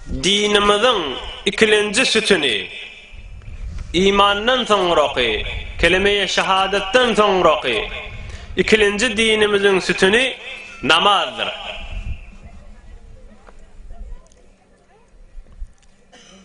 Dinimiziň ikilenji sütüni, imandan soňraky, keleme-i şahadatdan soňraky ikilenji dinimiziň sütüni namazdyr.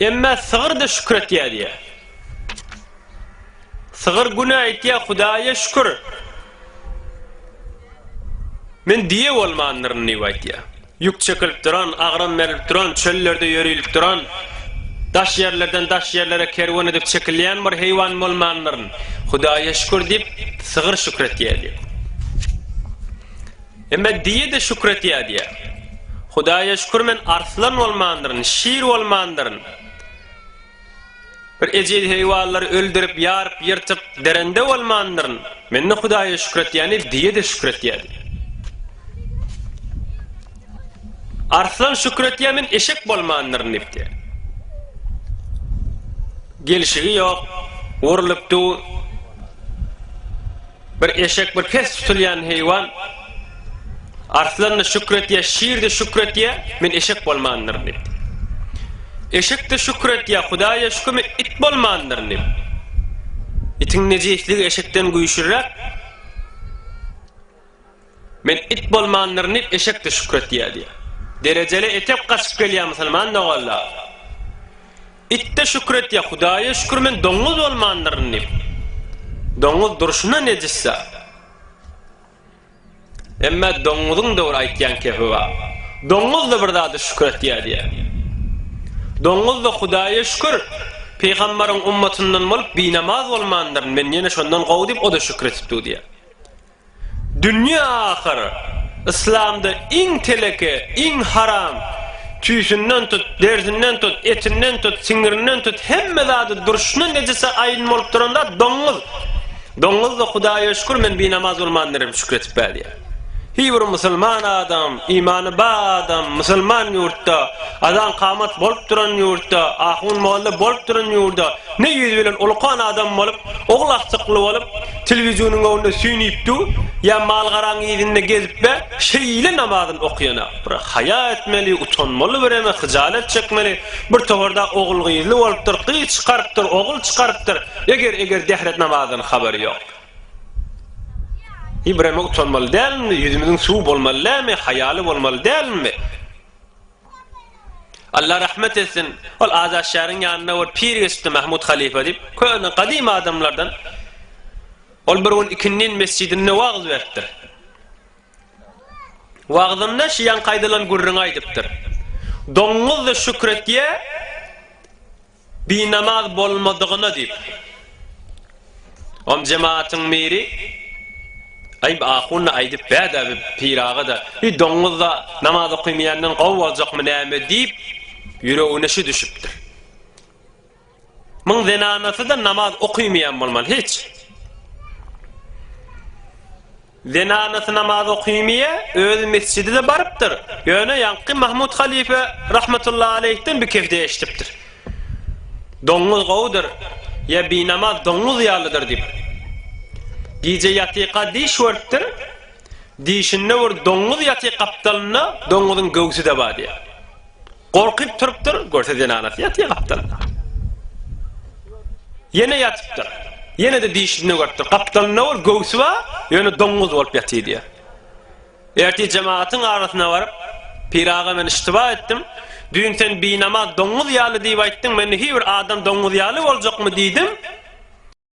Emme sygyr-da şükür etýär diýýär. Sygyr günä aýtýar, Hudaýa şükür, men düýe bolmandyryn diýip aýtýar. Ýük çekilip duran, agram berilip duran, çöllerde ýörilip duran, daş ýerlerden daş ýerlere kerwen edip çekilýän bir heýwan bolmandyryn. Hudaýa şükür diýip, sygyr şükür etýär diýýär. Emma diýe-de şükür etýär diýýär. Hudaýa şükür men arslan bolmandyryn, şir bolmandyryn. Bir ejiz heýwanlary öldürip, ýaryp, ýyrtyp, derende bolmandyryn. Men-de Hudaýa şükür etýän diýip, diýe-de şükür etýär diýýär. Arslan şükür etýär men eşek bolmandyryn diýip diýýär. Gelşigi ýok, urlupdy. Bir eşek bir pes tutulýan heýwan, Arslan-da şükür etýär, şir-de şükür etýär, men eşek bolmandyryn diýipdi. Eşek-de şükür etýär, Hudaýa şükür, men it bolmandyryn diýip. Itiň nejisligi eşekden güýçliräk. Men it bolmandyryn diýip eşek-de şükür etýär diýýär. Derejeli etek gaçyp gelýär musulman doganlar. It-de şükür etýär, Hudaýa şükür men doňuz bolmandyryn diýip. Doňuz durşuna nejis zat. Emma doňuzyň da bir aýtýan kepi bar. Doňuz-da bir zada şükür etýär diýýär. Doňuz-da Hudaýa şükür, pygamberiň ummatyndan bolup binamaz bolmandyryn, men ýene şondan gowy diýip o-da şükür edip dur diýýär. Dünýe ahyr, yslamda iň teleke, iň haram, tüýsünden tut, derisinden tut, etinden tut, siňirinden tut, hemme zady durşuna nejise aýyn bolup duran zat doňňuz. Doňňuz-da Hudaýa şükür men binamaz bolman derem şükür edip bälýär. Hiý bir musulman adam, imany ba adam, musulman ýurtda, azan-kamat bolup duran ýurtda, ahun-molla bolup duran ýurda ne ýüz bilen ulukan adam bolup, ogul aksykly bolup, Telewizionyň öňünde süýnüp dur ýa mal-garaň yzynda gezip be şeýle namazyn okýana bir haýa etmeli utanmaly bireme hyjalet çekmeli bir toparda ogul gyzly bolupdyr gyz çykarypdyr ogul çykarypdyr eger eger dehret namazdan habary ýok bireme utanmaly dälmi ýüzümiziň suwy bolmaly dälmi haýaly bolmaly dälmi. Alla rahmet etsin, ol Azatşähriň ýanynda bir pir geçipdi Mahmut halypa diýip, köne, gadymy adamlardan. Ol bir gün ikindin mesjidinde wagyz beripdir. Wagzynda şiýaňky aýdylan gürrüňi aýdypdyr. Doňňuzdy şükür etýä. Binamaz bolmadygyna diýip, om jematyň miri, Aýb ahun-da aýdyp bär-dä bi pir aga-da, bi doňňuz-da namaz okymaýandan gowy boljakmy näme diýip, ýüregine şu düşüpdir. Muň zenanasy-da namaz okymaýan bolmaly, hiç. Zenanasy namaz okymiýe, özi mesjide-de barypdyr. Ýöne ýaňky Mahmut halypa rahmetullahy aleýhden bikifde eşidipdir. Doňňuz gowudyr, ýa binamaz doňňuz ýalydyr diýip. Gije ýatyka diş görüpdir. Dişinde bir doňňuz ýatyk gapdalynda doňňuzyň göwsi-de bar diýýär. Gorkyp turupdyr, görse zenanasy ýatýa gapdalynda. Ýene ýatypdyr. Ýene-de dişini görüpdir. Gapdalynda ol göwsi bar, ýöne doňňuz bolup ýatyr diýýär. Ertir jemagatyň arasyna baryp, Pir aga men iştiba etdim. Düýn sen binamaz doňňuz ýaly diýip aýtdyň, men hiý bir adam doňňuz ýaly boljakmy diýdim.